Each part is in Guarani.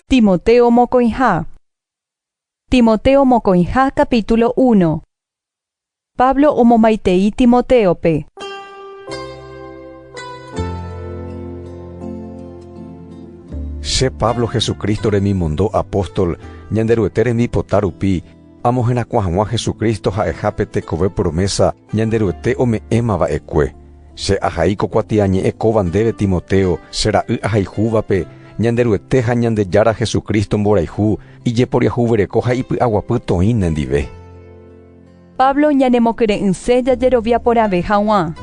Timoteo mokõiha Timoteo mokõiha capítulo uno Pablo omomaitei Timotéope. Che Pablo Jesucristo remimondo'apóstol Ñanderuete rembipota rupi, Amo herakuã hag̃ua Jesucristo ha'eha pe tekove promesa Ñanderuete ome'ẽma va'ekue. Che ahai ko kuatiañe'ẽ kóva ndéve Timoteo, che ra'y ahaihúvape, Ñanderuete ha Ñandejára Jesucristo mborayhu, ijeporiahuvereko ha ipy'aguapy toĩ nendive. Pablo ñanemokyre'ỹse jajerovia porãve hag̃ua.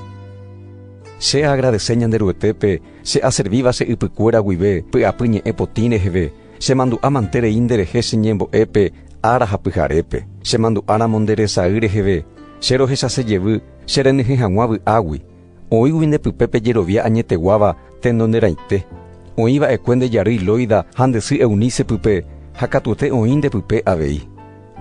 Che aagradese Ñanderuetépe che aservíva che ypykuéra guive py'apy ñe'ẽ potĩ reheve, Chemandu'a mante rei nde rehe che ñembo'e pe ára ha pyharépe, chemandu'a ramo nde resay reheve, che rohechase jevy che renyhẽ haguã vy'águi. Oĩgui nde pype pe jerovia añeteguáva tendo nde raite. Oĩ va'ekue nde jarýi Loida ha nde sy Eunice pype ha katuete oĩ nde pype avei.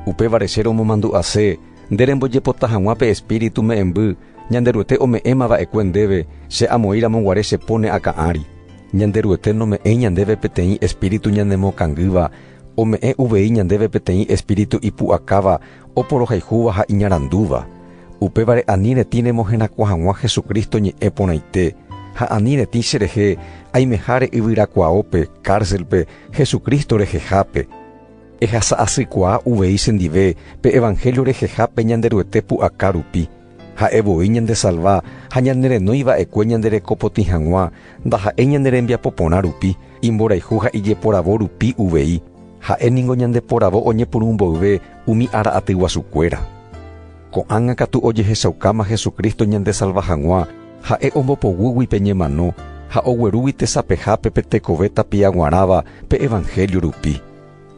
Upévare che romomandu'ase Nde rembojepota hag̃ua pe Espíritu me'ẽmby Ñanderuete ome'ẽma va'ekue ndéve, che amoĩ ramo guare chepo ne akã ári. Ñanderuete nome'ẽi ñandéve peteĩ Espíritu ñanemokangýva, ome'ẽ uvei ñandéve peteĩ Espíritu ipu'akáva, oporohayhúva ha iñarandúva. Upévare ani retĩ remoherakuã hag̃ua Jesucristo ñe'ẽ porãite, ha ani retĩ cherehe aimeháre yvyrakuaópe, cárcelpe, Jesucristo rehehápe. Ehasa asykuaa uvei chendive pe evangelio reheha pe Ñanderuete pu'aka rupi. Ha'e voi ñandesalva ha ñanerenói va'ekue ñandereko potĩ hag̃ua, ndaha'éi ñane rembiapo porã rupi, imborayhu ha ijeporavo rupi uvei. Ha'e ningo ñandeporavo oñepyrũ mboyve umi ára aty guasukuéra. Ko'ág̃a katu ojehechaukáma Jesucristo ñandesalva hag̃ua, ha'e ombopogúgui pe ñemano ha oguerúgui tesapehápe pe tekove tapia g̃uarãva pe evanhélio rupi.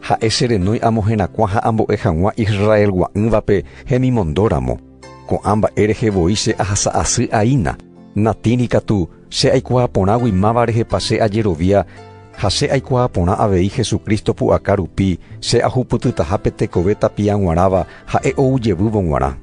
Ha'e che renói amoherakuã ha ambo'e hag̃ua Israel gua'ỹvape hemimondóramo. Ko'ã mba'e rehe voi che ahasa asy aína, natĩri katu, Che aikuaa porãgui máva rehepa che ajerovia, ha che aikuaa porã avei Jesucristo pu'aka rupi che ahupytytaha pe tekove tapia g̃uarãva ha'e ou jevývo g̃uarã.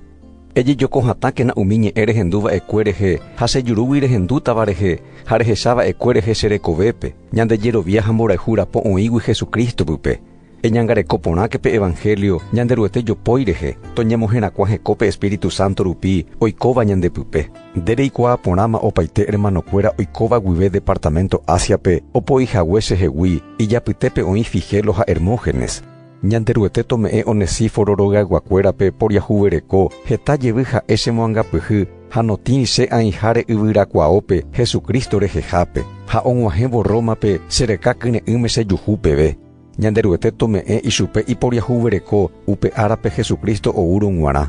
Ejejoko hatãkena umi ñe'ẽ rehendu va'ekue rehe ha che jurúgui rehendútava rehe ha rehecha va'ekue rehe che rekovépe, ñande jerovia ha mborayhu rapo oĩgui Jesucristo pype. Eñangareko porãke pe evangelio Ñanderuete jopói rehe, toñemoherakuã heko pe Espíritu Santo rupi oikóva ñande pype. Nde reikuaa porãma opaite hermanokuéra oikóva guive departamento Asia-pe opo'i hague chehegui, ijapytépe oĩ Figelo ha Hermógenes. Ñanderuete tome'ẽ Onesíforo rogayguakuérape poriahuvereko heta jevy ha'e chemoangapyhy ha notĩri che ãiháre yvyrakuaópe Jesucristo rehehápe, ha og̃uahẽvo Rómape che reka kyre'ỹme chejuhu peve. Ñanderuete tome'ẽ ichupe iporiahuvereko upe árape Jesucristo oúrõ g̃uarã.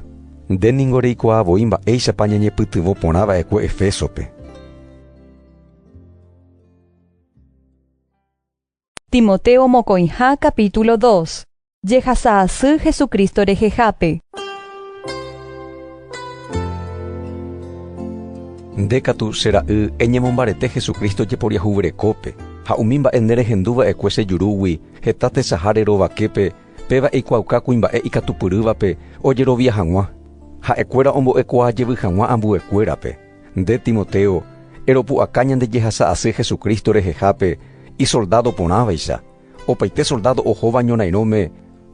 Nde ningo reikuaa voi mba'éichapa ñañepytyvõ porã va'ekue Efésope. Timoteo mokõiha capítulo dos, Jehasa asy Jesucristo rehehápe. Nde katu, che ra'y, eñemombarete Jesucristo jeporiahuverekópe, ha umi mba'e nerehendu va'ekue che jurúgui, heta tesaha rerovaképe, péva eikuaauka kuimba'e ikatupyrývape ojerovia hag̃ua, ha'ekuéra ombo'ekuaa jevy hag̃ua ambuekuérape. Nde, Timoteo, eropu'aka ñande jehasa asy Jesucristo rehehápe, isoldádo porãvaicha. Opaite soldádo ohóva ñorairõme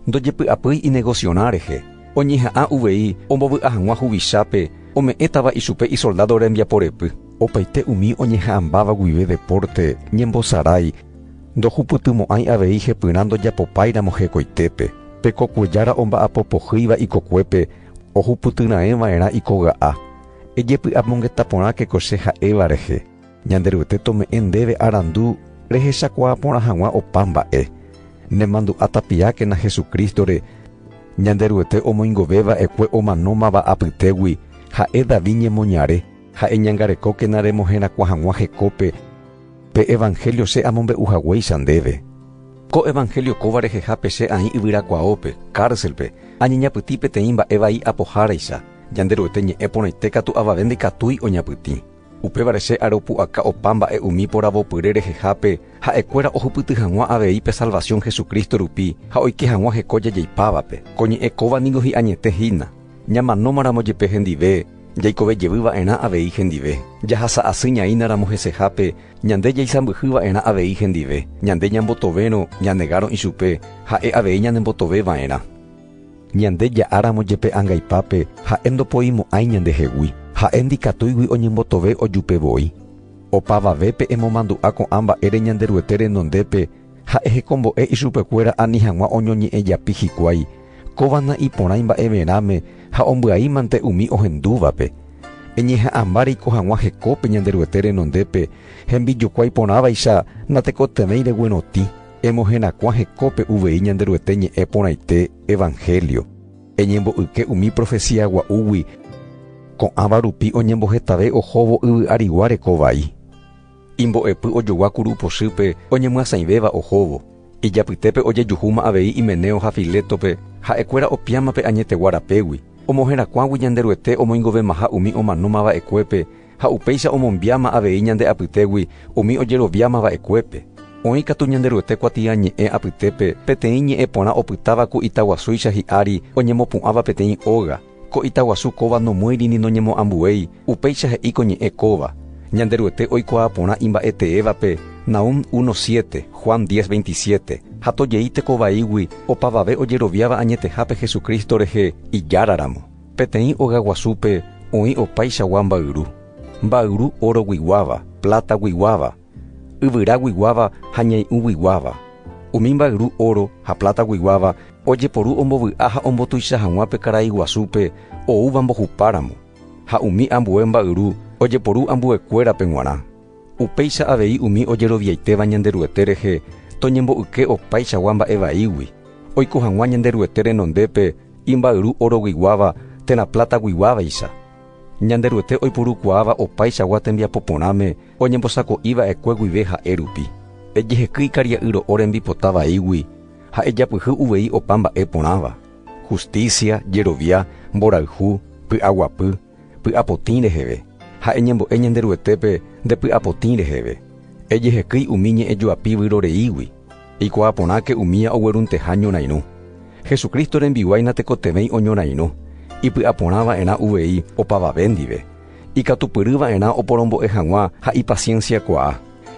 ndojepy'apýi inegosio'arã rehe, oñeha'ã uvei ombovy'a hag̃ua huvichápe ome'ẽtava ichupe isoldádo rembiaporepy. Opaite umi oñeha'ãmbáva guive depórte ñembosarái ndohupytymo'ãi avei hepyrã ndojapopáiramo hekoitépe. Pe kokue jára omba'apo pohýiva ikokuépe ohupytyraẽva'erã ikoga'a, ejepy'amongeta porã kekoche ha'éva rehe. Ñanderuete tome'ẽ ndéve arandu rehechakuaa porã hag̃ua opa mba'e. Nemandu'a tapiákena Jesucristo-re, Ñanderuete omoingove va'ekue omanómava apytégui, ha'e David ñemoñare, ha eñangarekókena remoherakuã hag̃ua hekópe pe evangelio che amombe'u haguéicha ndéve. Ko evangelio kóva rehehápe che aĩ yvyrakuaópe, cárcelpe, añeñapytĩ peteĩ mba'e vai apoháraicha, Ñanderuete ñe'ẽ porãite katu avave ndaikatúi oñapytĩ. Upévare che aropu'aka opa mba'e umi poravopyre rehehápe ha'ekuéra ohupyty hag̃ua avei pe salvasiõ Jesucristo rupi ha oike hag̃ua heko jajeipávape. Ko ñe'ẽ kóva ningo hi'añete hína. Ñamanómaramo jepe hendive, jaikove jevy va'erã avei hendive. Jahasa asy ñaínaramo hesehápe, ñande jaisãmbyhy va'erã avei hendive. Ñande ñambotovérõ, ñanegárõ ichupe, ha'e avei ñanembotoveva'erã. Ñande ja'áramo jepe angaipápe, ha'e ndopoimo'ãi ñandehegui. Ha'e ndikatúigui oñembotove ojupe voi. Opavavépe emomandu'a ko'ã mba'ére Ñanderuete renondépe ha ehekombo'e ichupekuéra ani hag̃ua oñoñe'ẽjapi hikuái, kóva na'iporãi mba'everãme ha ombyaímante umi ohendúvape. Eñeha'ãmba reiko hag̃ua hekópe Ñanderuete renondépe, hembijokuái porãvaicha natekotevẽi reguerotĩ. Emoherakuã hekópe uvei Ñanderuete ñe'ẽ porãite evanhélio, eñembo'yke umi profesía gua'úgui ko'ãva rupi oñembohetave ohóvo yvy arigua reko vai. Imbo'epy ojogua kuru pochýpe oñemyasãivéva ohóvo, ijapytépe ojejuhúma avei Himeneo ha Filétope ha'ekuéra opiãma pe añetegua rapégui, omoherakuãgui Ñanderuete omoingovemaha umi omanóma va'ekuépe Ha upéicha omombiáma avei ñande apytégui umi ojeroviáma va'ekuépe. Oĩ katu Ñanderuete kuatiañe'ẽ apytépe peteĩ ñe'ẽ porã opytáva ku ita guasúicha hi'ári oñemopu'ãva peteĩ óga. Ko ita guasu kóva nomýiri ni noñemoambuéi, upéicha he'i ko ñe'ẽ kóva. Ñanderuete oikuaa porã imba'eteévape, Nahum 1, 7, Juan 10, 27, ha tojei teko vaígui opavave ojeroviáva añetehápe Jesucristo rehe Ijáraramo. Peteĩ óga guasúpe oĩ opaichagua mbayru, mbayru órogui guáva, plátagui guáva, yvyrágui guáva ha ñai'ũgui guáva. Umi mbayru óro ha plátagui guáva ojeporu ombovy'a ha ombotuicha hag̃ua pe karai guasúpe oúva mbohupáramo, ha umi ambue mbayru ojeporu ambuekuérape g̃uarã. Upéicha avei umi ojeroviaitéva Ñanderuete rehe toñembo'yke opaichagua mba'e vaígui, oiko hag̃ua Ñanderuete renondépe, imba'yru oroguiguáva térã plataguiguávaicha, Ñanderuete oipurukuaáva opaichagua tembiapo porãme oñembosako'i va'ekue guive ha'e rupi. Ejeheky ikaria'y ro'o rembipota vaígui ha ejapyhy uvei opa mba'e porãva, hustísia, jerovia, mborayhu, py'aguapy, Py'apotĩ reheve, ha eñembo'e Ñanderuetépe nde py'apotĩ reheve. Ejehekýi umi ñe'ẽjoapi vyroreígui, eikuaa porãke umía oguerunteha ñorairũ. Jesucristo rembiguái natekotevẽi oñorairũ, ipy'aporã va'erã uvei opavave ndive, ikatupyry va'erã oporombo'e hag̃ua ha ipasiénsia kuaa,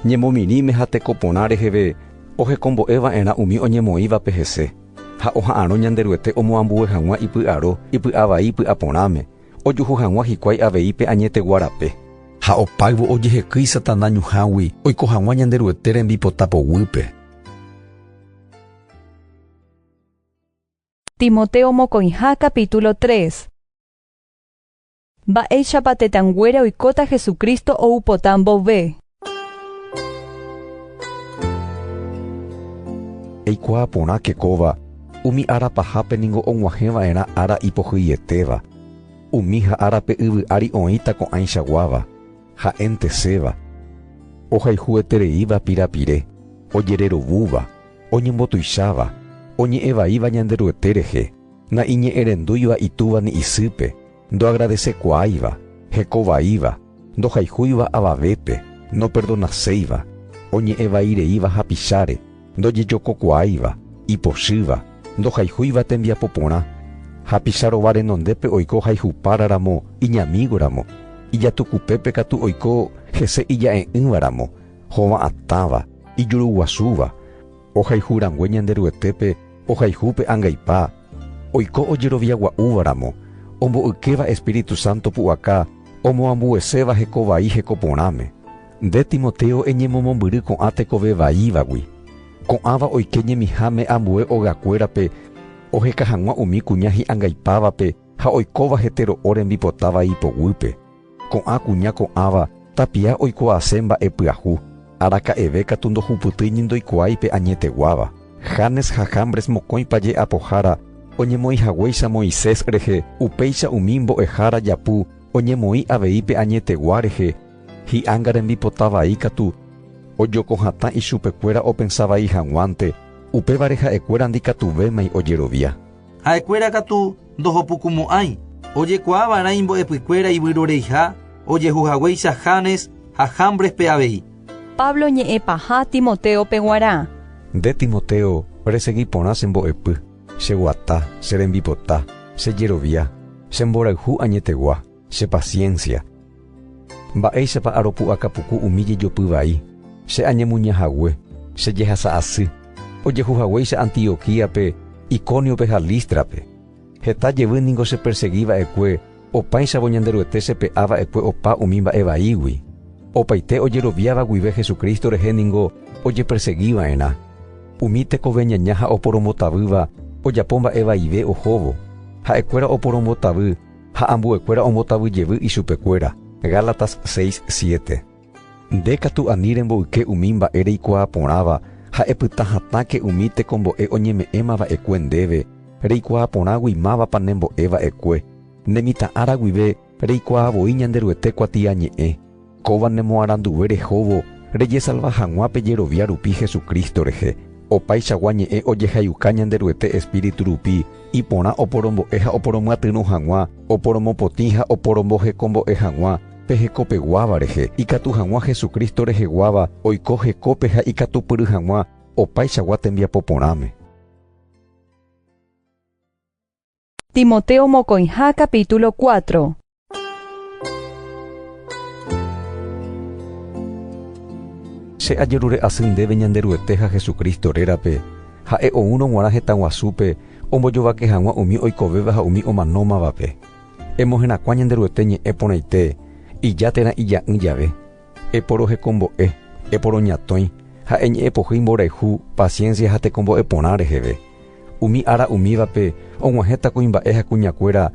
ñemomirĩme ha teko porã reheve ohekombo'e va'erã umi oñemoĩvape hese. Ha oha'arõ Ñanderuete omoambue hag̃ua ipy'aro ipy'avai ipy'a porãme, ojuhu hag̃ua hikuái avei pe añetegua rape. Ha opáyvo ojehekýi Satana ñuhãgui oiko hag̃ua Ñanderuete rembipota poguýpe. Timoteo mokõiha capítulo tres. Mba'éichapa tetãnguéra oikóta Jesucristo ou pota mboyve? Eikuaa porãke kóva, umi ára pahápe ningo og̃uahẽ va'erã ára ipohyietéva. Umi ha ára pe yvy ári oĩta ko'ãicha guáva, ha'enteséva, ohayhuetereíva pirapire, ojererovúva, oñembotuicháva, oñe'ẽvaíva Ñanderuete rehe, Na'iñe'ẽrendúiva itúva ni isýpe, ndoagradesekuaáiva, hekovaíva, ndohayhúiva avavépe, noperdonaséiva, oñe'ẽ vai reíva hapicháre, ndojejokokuaáiva, ipochýva, ndohayhúiva tembiapo porã, hapicha rova renondépe oiko hayhupára ramo iñamígo ramo, ijatukupépe katu oiko hese ija'e'ỹva ramo, hova'atãva, ijuruguasúva, Ohayhu rangue Ñanderuetépe ohayhu pe angaipa, oiko ojerovia gua'úva ramo, ombo'ykéva Espíritu Santo pu'aka omoambueséva heko vai heko porãme. Nde Timoteo eñemomombyry ko'ã tekove vaívagui. Ko'ãva oike ñemiháme ambue ogakuérape oheka hag̃ua umi kuña hi'angaipávape ha oikóva hetero'o rembipota vai poguýpe. Ko'ã kuña ko'ãva tapia oikuaase mba'e pyahu, araka'eve katu ndohupytýi ni ndoikuaái pe añeteguáva. Janes ha Jambres mokõipa je'apohára oñemoĩ haguéicha Moisés rehe, upéicha umi mbo'ehára japu oñemoĩ avei pe añetegua rehe, hi'anga rembipota vai katu ojoko hatã ichupekuéra opensa vai hag̃uánte, upévare ha'ekuéra ndikatuvémai ojerovia. Ha'ekuéra katu ndohopukumo'ãi. Ojekuaa va'erã imbo'epykuéra ivyroreiha ojehu haguéicha Janes ha Jambrespe avei. Pablo ñe'ẽ paha Timotéope guarã. Nde Timoteo, resegi porã che mbo'epy, che guata, che rembipota, che jerovia, che mborayhu añetegua. Che paciencia. Mba'éichapa aropu'aka puku umi jejopy vai, che añemuña hague, che jehasa asy, ojehu haguéicha Antioquíape, Icóniope ha Lístrape. Heta jevy ningo che persegi va'ekue, opáichavo Ñanderuete che pe'a va'ekue opa umi mba'e vaígui. Opaite ojeroviáva guive Jesucristo rehe ningo oje persegi va'erã. Umi tekove ñaña ha oporombotavýva ojapo mba'e vaive ohóvo, ha'ekuéra oporombotavy, Ha ambuekuéra ombotavy jevy ichupekuéra. Gálatas seis, siete. Nde katu ani remboyke umi mba'e reikuaa porãva ha epyta hatãke umi tekombo'e oñeme'ẽma va'ekue ndéve, reikuaa porãgui mávapa ne mbo'e va'ekue. Ne mitã ára guive reikuaa voi Ñanderuete kuatiañe'ẽ. Kóva ne moaranduve rehóvo rejesalva hag̃ua pe jerovia rupi Jesucristo rehe. Opaichagua ñe'ẽ ojehayuka Ñanderuete Espíritu rupi iporã oporombo'e ha oporomyatyrõ hag̃ua, oporomopotĩ ha oporombohekombo'e hag̃ua pe hekopeguáva rehe, ikatu hag̃ua Jesucristo reheguáva oiko hekópe ha ikatupyry hag̃ua opaichagua tembiapo porãme. Timoteo mokõiha capítulo cuatro. Che ajerure asy ndéve Ñanderuete ha Jesucristo rérape, Ha'e oúrõ g̃uarã hetãguasúpe ombojovake hag̃ua umi oikovéva ha umi omanómavape. Emoherakuã Ñanderuete ñe'ẽ porãite, ija térã ija'ỹ jave. Eporohekombo'e, eporoñatõi ha eñe'ẽpohýi mborayhu, paciencia ha tekombo'e porã reheve. Umi ára umívape og̃uahẽta kuimba'e ha kuñakuéra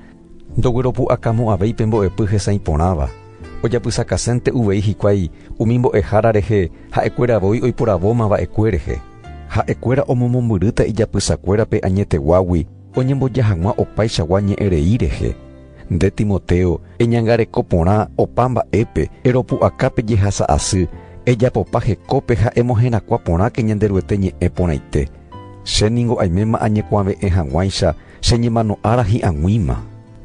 ndogueropu'akamo'ãvéi pe mbo'epy hesãi porãva. Ojapysakasénte uvei hikuái umi mbo'ehára rehe ha'ekuéra voi oiporavóma va'ekue rehe. Ha'ekuéra omomombyrýta ijapysakuérape añeteguágui oñemboja hag̃ua opaichagua ñe'ẽrei rehe. Nde Timoteo, eñangareko porã opa mba'épe, eropu'aka pe jehasa asy, ejapopa hekópe ha emoherakuã porãke Ñanderuete ñe'ẽ porãite. Che ningo aiméma añekuave'ẽ hag̃uáicha che ñemano ára hi'ag̃uíma.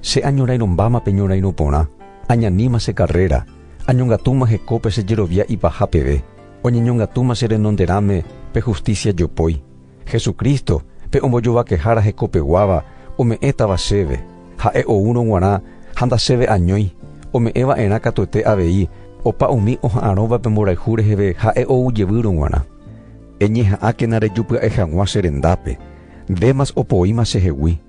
Che añorairõ mbáma pe ñorairõ porã, añaníma che karréra, añongatúma hekópe che jerovia ipaha peve, oñeñongatúma che renonderãme pe hustísia jopói, Jesucristo, pe ombojovakehára hekopeguáva, ome'ẽtava chéve, ha'e oúrõ guarã ha ndachéve añói, ome'ẽ va'erã katuete avei opa umi oha'arõva pe mborayhu reheve ha'e ou jevýrõ guarã. Eñeha'ãkena rejupya'e hag̃ua che rendápe, Demas opoíma chehegui.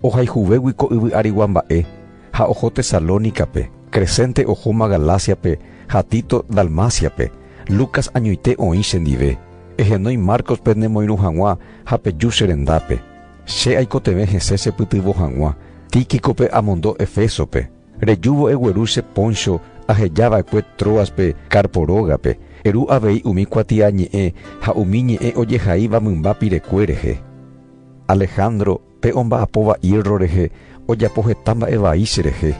Ohayhuvégui ko yvy arigua mba'e ha oho Tesalónicape, Crescente ohóma Galáciape ha Tito Dalmáciape, Lucas añoite oĩ chendive, ehenói Marcos pe nemoirũ hag̃ua ha peju che rendápe. Che aikotevẽ hese chepytyvõ hag̃ua, Tíquicope amondo Efésope. Rejúvo egueru che Poncho aheja va'ekue Tróaspe Carpo rógape, eru avei umi kuatiañe'ẽ ha umi ñe'ẽ ojehaíva mymba pirekué rehe. Alejandro, pe omba'apo va'írro rehe, ojapo heta mba'e vai cherehe.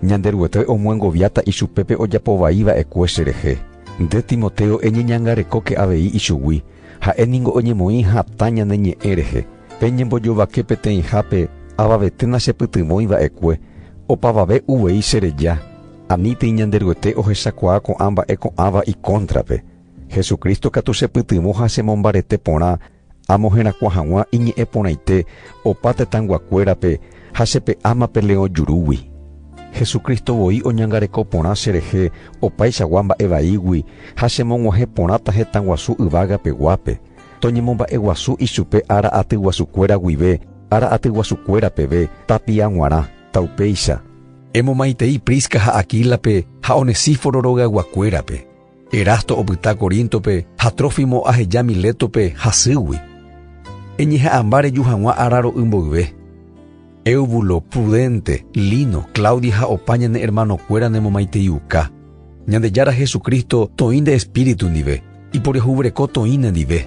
Ñanderuete omyengoviáta ichupe pe ojapo vai va'ekue cherehe. Nde Timoteo eñeñangarekóke avei ichugui, ha'e ningo oñemoĩ hatã ñane ñe'ẽ rehe. Peñembojovake peteĩhápe avavete nachepytyvõi va'ekue, opavave uvei chereja. Anítei Ñanderuete ohechakuaa ko'ã mba'e ko'ãva ikóntrape. Jesucristo katu chepytyvõ ha chemombarete porã, Amo herakuã hag̃ua iñe'ẽ porãite opa tetãyguakuérape ha che pe áma pe leõ jurúgui. Jesucristo voi oñangareko porã che rehe opaichagua mba'e vaígui ha chemog̃uahẽ porãta hetãguasu yvága peguápe, toñemomba'eguasu ichupe ára atyguasukuéra guive, ára atyguasukuéra peve, tapia g̃uarã, ta upéicha. Emomaitei Prisca ha Aquílape ha Onesíforo rogayguakuérape. Erasto opyta Coríntope ha Trófimo aheja Milétope hasýgui. Eñeha'ãmba reju hag̃ua ára ro'y mboyve. Éubulo, Pudente, Lino, Claudia ha opa ñane ermanokuéra nemomaiteiuka. Ñandejára Jesucristo toĩ nde espíritu ndive, iporiahuvereko toĩ nendive.